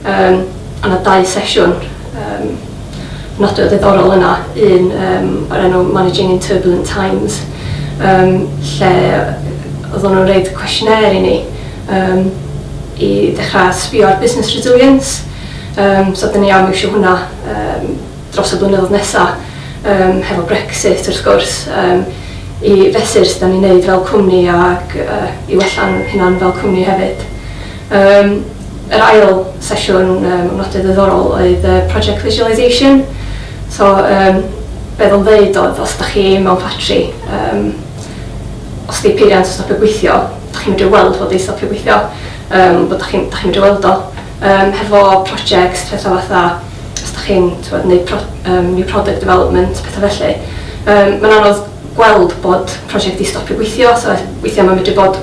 Um, a na dau sesiwn um, nodwedd ddiddorol yna, un um, o'r enw Managing in Turbulent Times, um, lle oedden nhw'n rhaid cwestiynau i ni um, i ddechrau sbio ar business resilience, um, so dyn ni am eisiau hwnna um, dros y blynyddoedd nesaf, um, hefo Brexit wrth gwrs, um, i fesur sydd ni'n neud fel cwmni ac uh, i wella'n hynna'n fel cwmni hefyd. Yn yr ail sesiwn yym nodiad ddiddorol oedd yy project visualisation so yym be oedd o'n ddeud oedd os da chi mewn ffatri yym os di peiriant yn stopio gweithio da chi'n medru weld fod hi'n stopio gweithio yym bod da chi'n da chi'n medru weld o yym hefo projects petha fatha os da chi'n t'mod neud pro- yym new product development petha felly yym ma'n anodd gweld bod project di stopio gweithio so weithia ma'n medru bod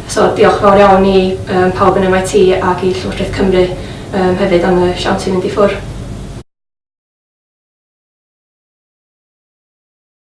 So, diolch yn fawr iawn i yym pawb yn MIT ac i Llywodraeth Cymru yym hefyd am y siawns i fynd i ffwr'.